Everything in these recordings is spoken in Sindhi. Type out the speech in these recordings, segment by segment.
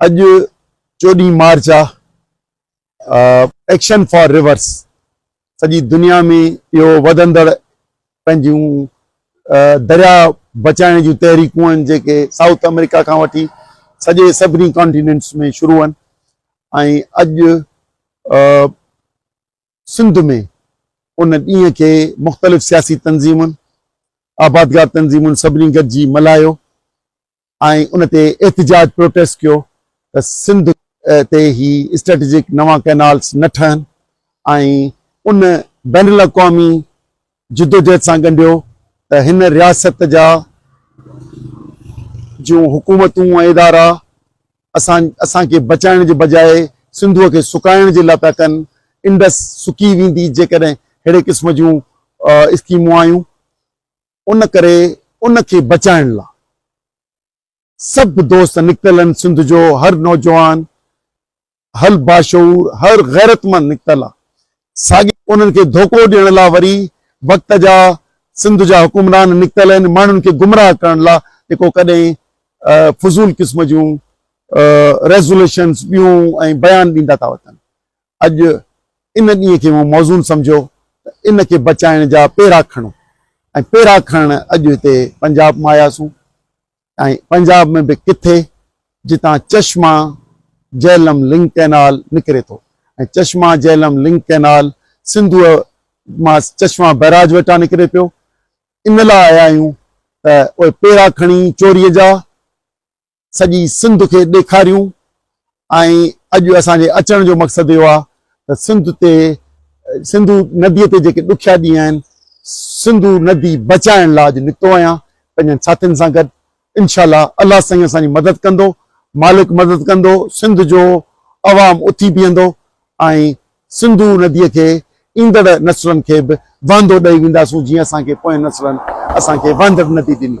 اڄ چوڏهين مارچ آ ايڪشن فار ريورس سڄي دنيا ۾ اهو وڌندڙ پنهنجون دريا بچائڻ جون تحريڪون آهن جيڪي سائوٿ آمريڪا کان وٺي سڄي سڀني ڪانٽيننٽس ۾ شروع آهن ۽ اڄ سنڌ ۾ ان ڏينهن کي مختلف سياسي تنظيمن، آبادگار تنظيمن سڀني گڏجي ملهايو ۽ ان تي احتجاج، پروٽيسٽ، ڪيو ته سنڌ تي هي اسٽريٽجڪ نوان ڪئنالز نه ٺهن ۽ ان بين الاقوامي جدوجهد سان ڳنڍيو ته هن رياست جا جون حڪومتون ۽ ادارا اسان اسان کي بچائڻ جي بجاء سنڌوء کي سڪائڻ جي لاء پيا ڪن، انڊس سڪي ويندي جيڪڏهن ههڙي قسم جون اسڪيمون آيون، ان ڪري ان کي بچائڻ لاء سڀ دوست نڪتل آهن سنڌ جو هر نوجوان هل باشعور هر غيرتمند نڪتل آ ساڳي انهن کي ڌوڪو ڏيڻ لا وري وقت جا سنڌ جا حڪمران نڪتل آهن ماڻهن کي گمراهه ڪرڻ لا جيڪو ڪڏهن فضول قسم جون ريزوليشنس ٻيون ۽ بيان ڏيندا ٿا وتن اڄ ان ڏينهن کي مون موزون سمجهيو ته ان کي بچائڻ جا پيرا کڻو ۽ پيرا کڻڻ اڄ هتي پنجاب مان آياسون ۽ پنجاب ۾ به ڪٿي جتان چشما جهلم لنڪ ڪئنال نڪري ٿو ۽ چشما جهلم لنڪ ڪئنال سنڌوء مان چشما بئراج وٽان نڪري پيو ان لاء آيا آهيون ته اهي پيرا کڻي چوريء جا سڄي سنڌ کي ڏيکاريون ۽ اڄ اسان جي اچڻ جو مقصد اهو آهي ته سنڌ تي سنڌو نديء تي جيڪي ڏکيا ڏينهن آهن سنڌو ندي بچائڻ لاء اڄ نڪتو آهيان پنهنجن ساٿين سان گڏ انشاء الله الله سائين اسان جي مدد ڪندو مالڪ مدد ڪندو سنڌ جو عوام اٿي بيهندو ۽ سنڌو نديء کي ايندڙ نسلن کي به وهندو ڏئي وينداسون جيئن اسان کي پوئين نسلن اسان کي وهندڙ ندي ڏني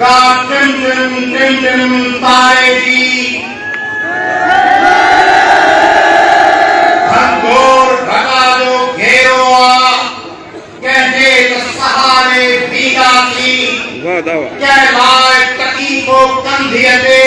ڪا ٽنڊن ٽنڊن تاري جي گهنگهور ڍڳا جو گهيرو آ ڪنهن جي ته سهاري بيٺا ٿي ڪنهن لاء تڪيفو ڪنڌيء تي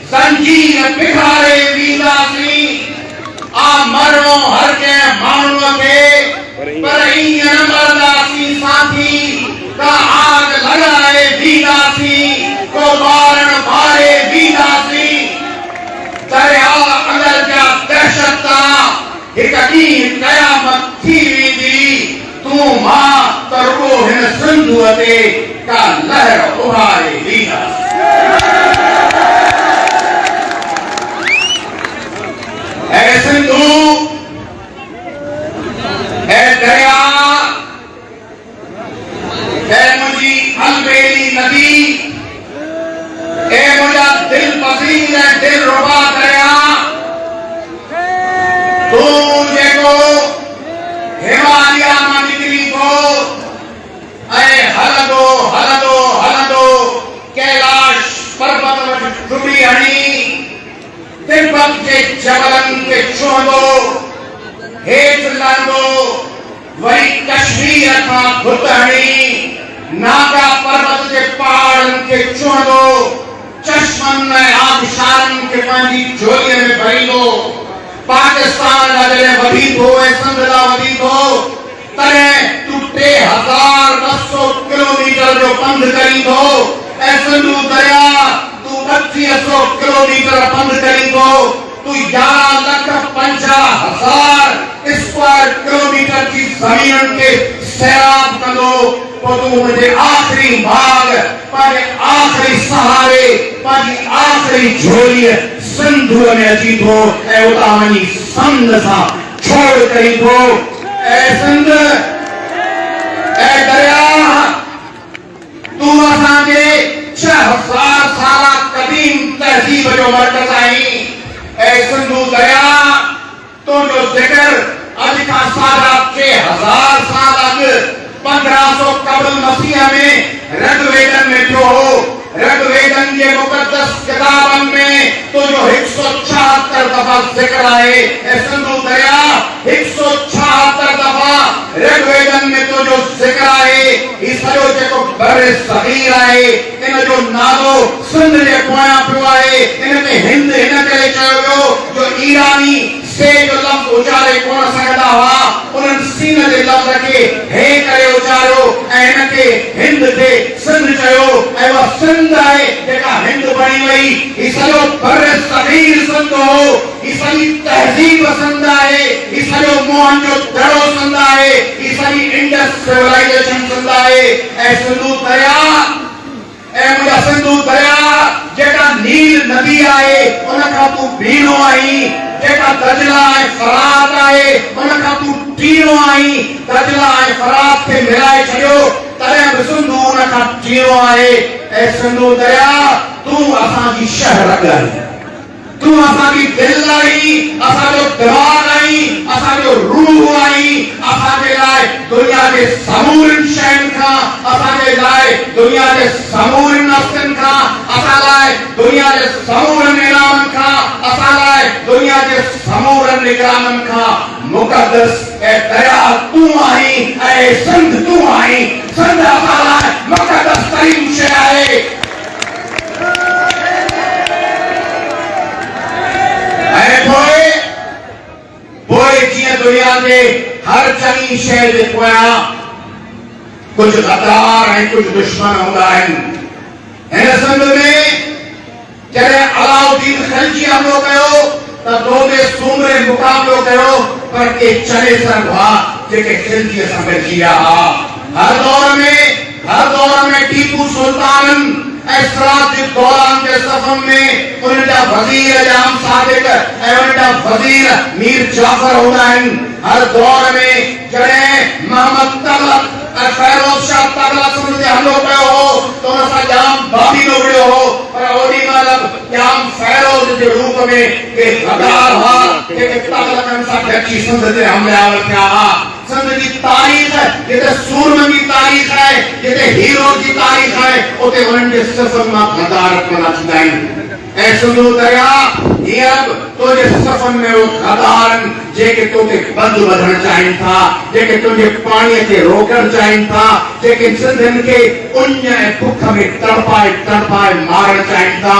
زنجير پگهاري وينداسين آ مرڻو هر ڪنهن ماڻهوء کي پر ايئن نه مرنداسين ساٿي ڪا آڳ لڳائي وينداسين ڪو ٻارڻ ٻاري وينداسين درياء اندر جا دهشت تان هڪ ڏينهن قيامت ٿي ويندي. تون مان ته رڳو هن سنڌوء تي ڪا لهر اڀاري ڏيندس. اي سنڌو! اي درياء! اي منهنجي البيلي ندي! اي منهنجا دل پسيل ۽ دل ربا درياء تون جيڪو هماليا مان نڪري ٿو ۽ هلندو هلندو هلندو ڪيلاش پربت وٽ ٽٻي هڻي تبت جي جبلن تي ڇهندو هيٺ لهندو وري ڪشمير کان گهٽ هڻي ناگا پروت جي پهاڙن کي ڇهندو، چشمن ۽ آبشارن کي پنهنجي جهوليء ۾ ڀريندو. پاڪستان ڏانهن جڏهن وڌي ٿو ۽ سنڌ ڏانهن وڌي ٿو، تڏهن تون ٽي هزار ٻه سؤ ڪلوميٽر جو پنڌ ڪرين ٿو ۽ سنڌو درياء تون ٻٽيهه سؤ ڪلوميٽر پنڌ ڪرين ٿو. تون يارهن لک پنجاهه هزار اسڪوائر ڪلوميٽر جي زمينن کي سيراب ڪندو، پوء تون منهنجي آخري ماڳ، پنهنجي آخري سهاري، پنهنجي آخري جهوليء سنڌوء ۾ اچين ٿو ۽ اتان وڃي سنڌ سان ڇوڙ ڪرين ٿو. اي سنڌ! اي درياهه! تون اسان جي ڇهه هزار سالا قديم تهذيب جو مرڪز آهين. اي سنڌو درياء! تنهنجو ذڪر اڄ کان ساڍا ٽي هزار سال اڳ، پندرهن سو قبل مسيح ۾، رگ ويدن ۾ ٿيو هو. رگ ويدن جي مقدس ڪتابن ۾ تنهنجو هڪ سؤ ڇاهتر دفعا ذڪر آهي. اي سنڌو درياء! هڪ سؤ ڇاهتر دفعا رگ ويدن ۾ تنهنجو ذڪر آهي. هي سڄو جيڪو برصغير آهي، ان جو نالو سنڌ جي پويان پيو آهي. ان کي هند ان ڪري چيو ويو جو ايراني سي جو لفظ اچاري ڪونه سگهندا هئا. انهن سين جي لفظ کي هي ڪري اچاريو ۽ ان کي هند کي سنڌ چيو ۽ اها سنڌ آهي جيڪا هند بڻي وئي. هي سڄو برصغير سنڌ هو. هي سڄي تهذيب سنڌ آهي، هي سڄو موهن جو دڙو سنڌ آهي، هي سڄي انڊس سولائيزيشن سنڌ آهي. اي سنڌو درياء، اي منهنجا سنڌو درياء، جيڪا نيل ندي آهي، ان کان تون ڀينو آهين، جيڪا دجله ۽ فرات آهي، ان کان تون ٽيڻو آهين، دجله ۽ فرات کي ملائي ڇڏيو، تڏهن به سنڌو ان کان ٽيڻو آهي. اي سنڌو درياء، تون اسان جي شهه رڳ آهين. تون اسان جي دل آهين، اسان جو دماغ آهين، اسان جو روح آهين، اسان جي لاء دنيا جي سمورين شين کان، اسان جي لاء دنيا جي سمورين هستين کان، اسان لاء دنيا جي سمورن انعامن کان، اسان لاء دنيا جي سمورن نگرانن کان مقدس اي درياء تون آهين ۽ اي سنڌ تون آهين، سنڌ اسان لاء مقدس ترين شيء آهي. ۽ پوء پوء جيئن دنيا تي هر چڱي شيء جي پويان ڪجهه غدار ۽ ڪجهه دشمن هوندا آهن هن سنڌ ۾ جڏهن علاء الدين خلجي حملو ڪيو ته دودي سومري مقابلو ڪيو پر ڪي چنيسر هئا جيڪي خلجيء سان گڏجي ويا هئا هر دور ۾ هر دور ۾ ٽيپو سلطانن ۽ سراج جي دوران جي صفن ۾ انهن جا وزير ايام صادق ۽ انهن جا وزير مير جعفر هوندا آهن. هر دور ۾ جڏهن محمد تغلق ۽ فيروز شاهه تغلق سنڌ تي حملو ڪيو هو ته ان سان ڄام بابي به وڙهيو هو پر اوڏي مهل به ڄام فيروز جي روپ ۾ ڪي غدار هئا جيڪي تغلقن سان گڏجي سنڌ تي حملي آور ٿيا ها. سنڌ جي تاريخ جتي سورمن جي تاريخ آهي، جتي هيروز جي تاريخ آهي، اتي انهن جي صفن مان غدارت پيدا ٿيندا آهن. اي سنڌو درياء، هينئر به تو جي صفن ۾ اهي غدارن جيڪي تو تي ٻڌ ٻڌڻ چاهين ٿا، جيڪي تنهنجي پاڻيء کي روڪڻ چاهين ٿا، جيڪي سنڌين کي اڃ ۽ بک ۾ تڙپائي تڙپائي مارڻ چاهين ٿا،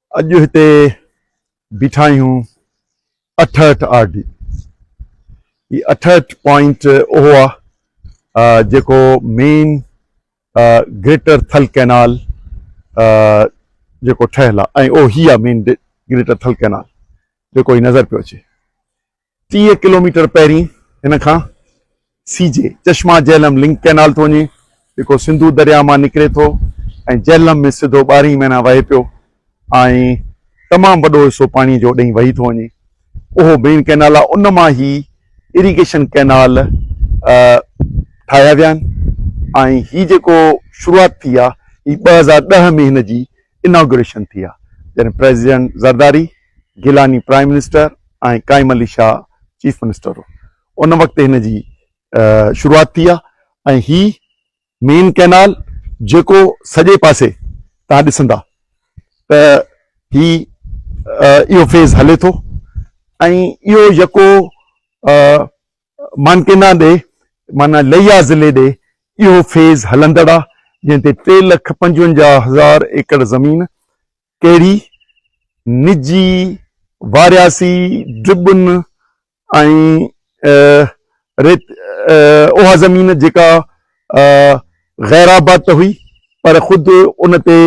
اڄ هتي بيٺا آهيون اٺهٺ آر ڊي هي اٺهٺ پوائنٽ اهو آ جيڪو مين گريٽر ٿل ڪئنال جيڪو ٺهيل آ ۽ اهو هي آ مين گريٽر ٿل ڪئنال جيڪو هي نظر پيو اچي ٽيهه ڪلوميٽر پهرين هن کان C J Chashma Jhelum link canal ٿو وڃي جيڪو سنڌو درياهه مان نڪري ٿو ۽ جهلم ۾ سڌو ٻارهين مهينا وهي پيو ۽ تمام وڏو حصو پاڻي جو ڏئين وهي ٿو وڃي اهو مين ڪئنال آهي ان مان هي اريگيشن ڪئنال ٺاهيا ويا آهن ۽ هي جيڪو شروعات ٿي آهي هي ٻه هزار ڏهه ۾ هن جي اناگوريشن ٿي ها جڏهن president Zardari, Gilani prime minister ۽ Qaim Ali Shah chief minister هو ان وقت هن جي شروعات ٿي ها ۽ هي مين ڪئنال جيڪو سڄي پاسي تان ڏسندا ته هي اهو فيز هلي ٿو ۽ اهو يڪو مانڪينا ڏي معنيٰ ليا ضلعي ڏي اهو فيز هلندڙ آ جنهن تي ٽي لک پنجونجاهه هزار ايڪڙ زمين ڪهڙي نجي وارياسي ڊبن ۽ ريت اها زمين جيڪا غيرآباد ته هئي پر خود ان تي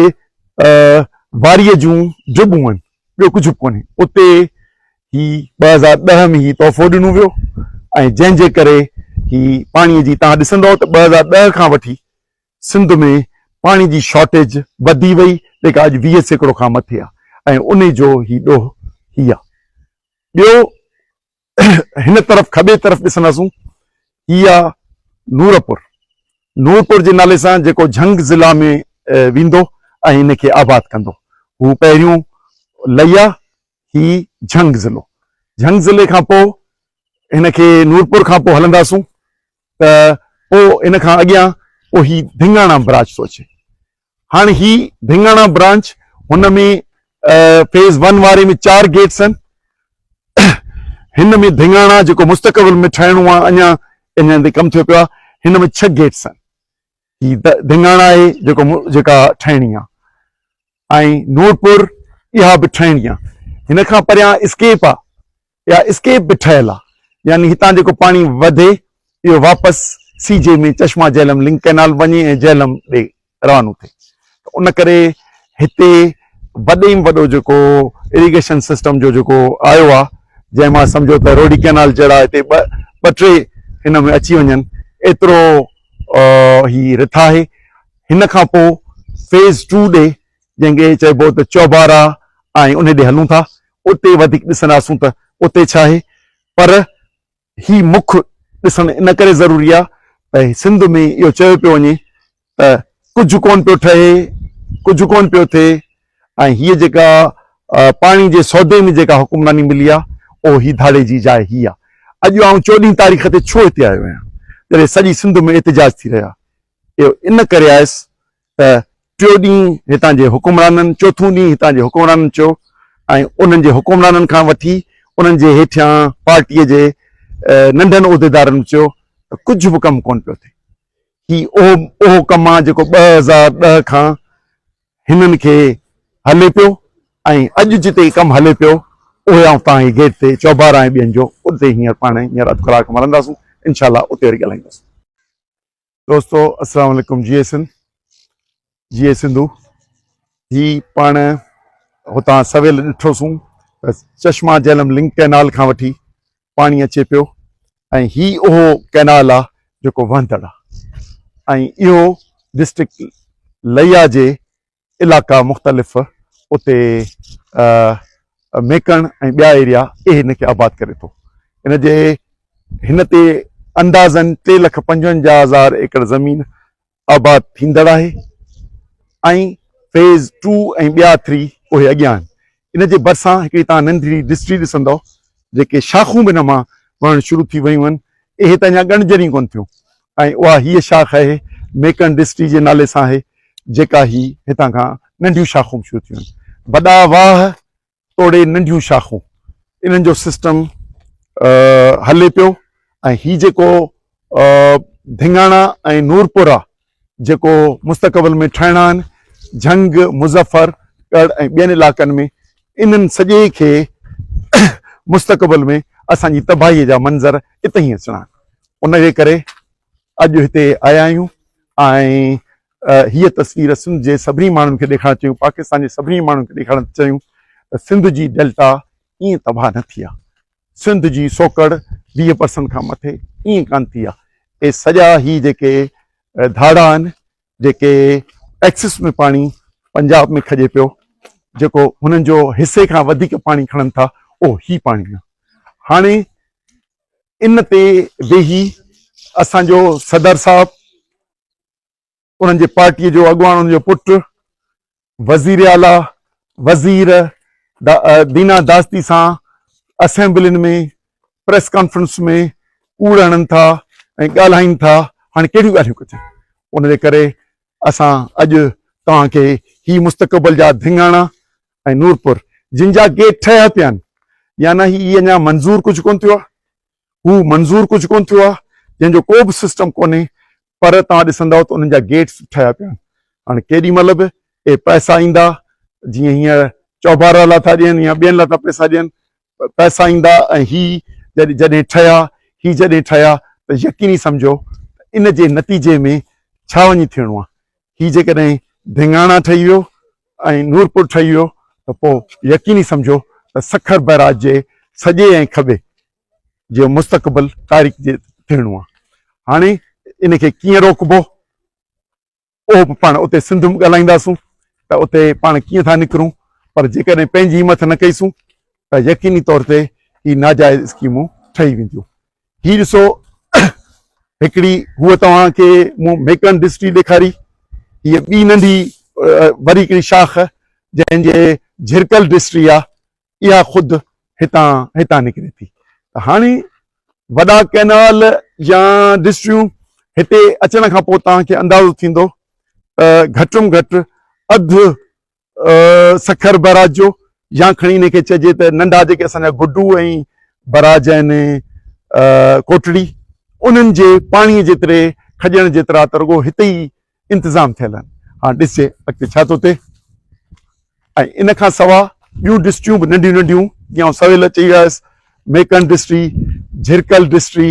واريء جون ڊبون هن. ٻيو ڪجهه به ڪونهي. اتي هي ٻه هزار ڏهه ۾ هي تحفو ڏنو ويو ۽ جنهن جي ڪري هي پاڻي جي توهان ڏسندئو ته ٻه هزار ڏهه کان وٺي سنڌ ۾ پاڻي جي شارٽيج وڌي وئي جيڪا اڄ ويهه سيڪڙو کان مٿي آهي ۽ انهي جو هي ڏوهه هي آهي. ٻيو هن طرف کٻي طرف ڏسنداسون هي آ نورپور نورپور جي نالي سان جيڪو جهنگ ضلع ۾ ويندو ۽ ان کي آباد ڪندو هو پهريون لئي آ هي جهنگ ضلعو جهنگ ضلعي کان پو هن کي نورپور کان پو هلنداسون ته پو ان کان اڳيان پو هي ڌنگاڻا براج ٿو اچي هاڻ هي ڀينگاڻا برانچ هن ۾ فيز ون واري ۾ چار گيٽس آهن هن ۾ ڀينگاڻا جيڪو مستقبل ۾ ٺهڻو آهي اڃا ان هنڌ ڪم ٿيو پيو آهي هن ۾ ڇهه گيٽس آهن هي ڀينگاڻا آهي جيڪو جيڪا ٺهڻي آهي ۽ نورپور اها به ٺهڻي آهي هن کان پريان اسڪيپ آهي اها اسڪيپ به ٺهيل آهي يعني هتان جيڪو پاڻي وڌي اهو واپس C J ۾ Chashma Jhelum link canal وڃي ۽ جهلم ڏي روانو ٿئي ته ان ڪري هتي وڏي ۾ وڏو جيڪو اريگيشن سسٽم جو جيڪو آيو آهي جنهن مان سمجهو ته روڊي ڪئنال جهڙا هتي ٻه ٻه ٽي هن ۾ اچي وڃن ايترو هي رٿ آهي هن کان پوء فيز ٽو ڏي جنهن کي چئبو ته چوبارا ۽ ان ڏي هلون ٿا اتي وڌيڪ ڏسنداسون ته اتي ڇا آهي پر هي مک ڏسڻ ان ڪري ضروري آهي ته سنڌ ۾ اهو چيو پيو وڃي ته ڪجهه ڪونه پيو ٺهي ڪجهه ڪونه پيو ٿئي ۽ هيء جيڪا پاڻي جي سودي ۾ جيڪا حڪمراني ملي آهي اهو هي ڌاڙي جي جاء هي آهي اڄ آئون چوڏهين تاريخ تي ڇو هتي آيو آهيان جڏهن سڄي سنڌ ۾ احتجاج ٿي رهيا اهو ان ڪري آيس ته ٽيون ڏينهن هتان جي حڪمرانن، چوٿون ڏينهن هتان جي حڪمرانن چيو ۽ انهن جي حڪمرانن کان وٺي انهن جي هيٺيان پارٽيء جي ننڍن عهديدارن به چيو ته ڪجهه به ڪم ڪونه پيو ٿئي. هي اهو اهو ڪم آ جيڪو ٻه هزار ڏهه کان هنن کي هلي پيو ۽ اڄ جتي ڪم هلي پيو اهي آئون تان هي گيٽ تي چوبارا ۽ ٻين جو اتي هينئر پاڻ هينئر اڌ ڪلاڪ مرنداسون انشاء الله اتي وري ڳالهائينداسون. دوستو السلام عليڪم جي اي سنڌ جي اي سنڌو هي پاڻ هتان سويل ڏٺوسون چشما جهلم لنڪ ڪئنال کان وٺي پاڻي اچي پيو ۽ هي اهو ڪئنال آ جيڪو وهندڙ آ ۽ اهو ڊسٽرڪٽ لئيا جي علائقا مختلف اتي ميڪڻ ۽ ٻيا ايريا اهي هن کي آباد ڪري ٿو ان جي هن تي اندازن ٽي لک پنجونجاهه هزار ايڪڙ زمين آباد ٿيندڙ آهي ۽ فيز ٽو ۽ ٻيا ٿري اهي اڳيان آهن ان جي ڀرسان هڪڙي توهان ننڍڙي ڊسٽري ڏسندؤ، جيڪي شاخون به ان مان وهڻ شروع ٿي ويون آهن. اهي ته اڃا ڳڻجن ئي ڪونه ٿيون ۽ اها هيء شاخ آهي، ميڪن ڊسٽري جي نالي سان آهي، جيڪا هي هتان کان ننڍيون شاخون به شروع ٿيون آهن. وڏا واهه توڙي ننڍيون شاخون، انهن جو سسٽم هلي پيو ۽ هي جيڪو ڌڱاڻا ۽ نورپورا جيڪو مستقبل ۾ ٺهڻان، جهنگ، مظفر ڳڙهه ۽ ٻين علائقن ۾ انهن سڄي کي مستقبل ۾ اسان جي تباهي جا منظر اتهين ئي اچڻان ان جي ڪري اڄ هتي آيا آهيون ۽ هيء تصوير سنڌ جي سڀني ماڻهن کي ڏيکارڻ چيون پاڪستان جي سڀني ماڻهن کي ڏيکارڻ چيون ته سنڌ جي ڊيلٽا ائين تباهه نه ٿي آهي سنڌ جي سوڪڙ ويهه پرسنٽ کان مٿي ائين ڪانه ٿي آهي اهي سڄا هي جيڪي ڌاڙا آهن جيڪي ٽيڪسز ۾ پاڻي پنجاب ۾ کڄي پيو جيڪو هنن جو حصي کان وڌيڪ پاڻي کڻن ٿا اهو هي پاڻي آهي هاڻي ان تي ويهي اسان جو صدر صاحب انهن جي پارٽيء جو اڳواڻ انهن جو پٽ وزير اعليٰ وزير دينا داستي سان اسيمبلين ۾ پريس ڪانفرنس ۾ ڪوڙ هڻن ٿا ۽ ڳالهائين ٿا هاڻي ڪهڙيون ڳالهيون ڪجن ان جي ڪري اسان اڄ توهان کي هي مستقبل جا ڌڱاڻا ۽ نورپور جن جا گيٽ ٺهيا پيا آهن يعنی هي اڃا منظور ڪجهه ڪون ٿيو آهي هو منظور ڪجهه ڪونه ٿيو آهي جنهن جو ڪو به سسٽم ڪونهي پر توهان ڏسندؤ ته انهن جا گيٽس به ٺهيا پيا آهن هاڻي ڪيڏي مهل به اهي پئسا ايندا جيئن هينئر چوبارا لا ٿا ڏين يا ٻين لا ٿا پئسا ڏين پئسا ايندا ۽ هي جڏهن جڏهن ٺهيا هي جڏهن ٺهيا ته يقيني سمجهو ان جي نتيجي ۾ ڇا وڃي ٿيڻو آهي هي جيڪڏهن ڌينگاڻا ٺهي ويو ۽ نورپور ٺهي ويو ته پوء يقيني سمجهو ته سکر بئراج جي سڄي ۽ کٻي جو مستقبل تاريڪ جي ٿيڻو آ. هاڻي ان کي ڪيئن روڪبو اهو به پاڻ اتي سنڌ ۾ ڳالهائينداسون ته اتي پاڻ ڪيئن ٿا نڪرون پر جيڪڏهن پنهنجي همٿ نه ڪئيسون ته يقيني طور تي هي ناجائز اسڪيمون ٺهي وينديون هي ڏسو هڪڙي هو توهان کي مون ميڪن ڊسٽري ڏيکاري هي ٻي ننڍي وري هڪڙي شاخ جنهن جي جھرڪل ڊسٽري آ اها خود هتان هتان نڪري ٿي ته هاڻي وڏا ڪئنال يا ڊسٽريون هتي اچڻ کان پوء توهان کي اندازو ٿيندو ته گھٽ م گھٽ اڌ سکر براج جو يا کڻي ان کي چئجي ته ننڍا جيڪي اسان جا گڊو ۽ براج آهن ڪوٽڙي انهن جي پاڻي جيتري کڄڻ جيترا ته رڳو هتي ئي انتظام ٿيل آهن هاڻ ڏسجي اڳتي ڇا ٿو ٿئي ۽ ان کان سواء ٻيون ڊسٽريون به ننڍيون ننڍيون جيئن سويل چئي آيس ميڪن ڊسٽري جھرڪل ڊسٽري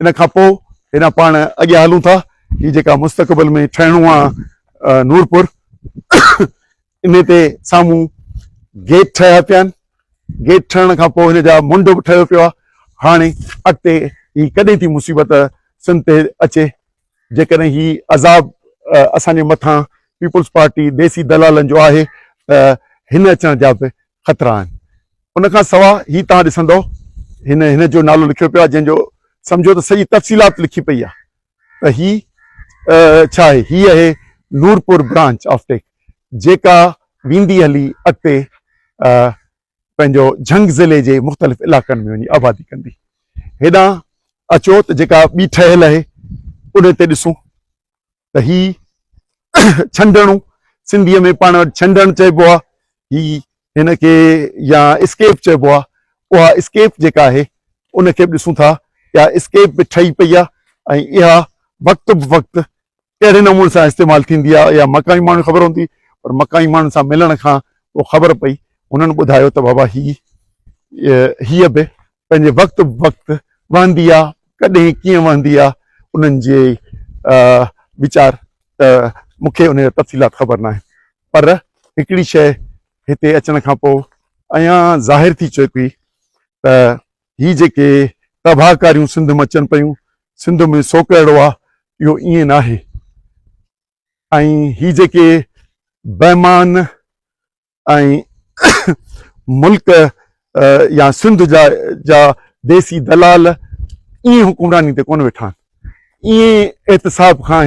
ان کان پوء هيڏانهن پاڻ اڳيان هلون ٿا. هي جيڪا مستقبل ۾ ٺهڻو آ نورپور انهي تي سامهون گيٽ ٺهيا پيا آهن. گيٽ ٺهڻ کان پوء هن جا منڍ به ٺهيو پيو آ. هاڻي اڳتي هي ڪڏهن ٿي مصيبت سنڌ تي اچي جيڪڏهن هي عذاب اسان جي مٿان پيپلز پارٽي ديسي دلالن جو آهي ته هن اچڻ جا به خطرا آهن. ان کان سوا هي توهان ڏسندؤ هن هن جو نالو لکيو پيو آهي جنهن جو سمجهو ته سڄي تفصيلات لکي پئي آهي ته هي ڇا آهي. هي اهي نورپور برانچ آف ٽيڪ جيڪا ويندي هلي اڳتي پنهنجو جهنگ ضلعي جي مختلف علائقن ۾ وڃي آبادي ڪندي هيڏانهن اچو ته جيڪا ٻي ٺهيل آهي ان تي ڏسون ته هي ڇنڊڻو سنڌيء ۾ پاڻ وٽ ڇنڊڻ چئبو آهي هي هن کي يا اسڪيپ چئبو آهي اها اسڪيپ جيڪا آهي ان کي به ڏسون ٿا اها اسڪيپ به ٺهي پئي آهي ۽ اها وقت به وقت ڪهڙي نموني سان استعمال ٿيندي آهي اها مقامي ماڻهن کي خبر هوندي پر مقامي ماڻهن سان ملڻ کان پوء خبر پئي هنن ٻڌايو ته بابا هي هيء به پنهنجي وقت وقت وهندي آهي ڪڏهن ڪيئن وهندي آهي انهن جي ويچار ته مون کي ان جا تفصيلات خبر ناهن پر هڪڙي شيء هتي اچڻ کان پوء ايان ظاهر ٿي چڪي ته هي جيڪي تباهڪاريون سنڌ م اچن پيون سنڌ م سو ڪهڙو آ اهو ائين ناهي ۽ هي جيڪي بيمان ۽ ملڪ يا سنڌ جا جا ديسي دلال ائين حڪمراني تي ڪونه ويٺا آهن ائين احتساب کان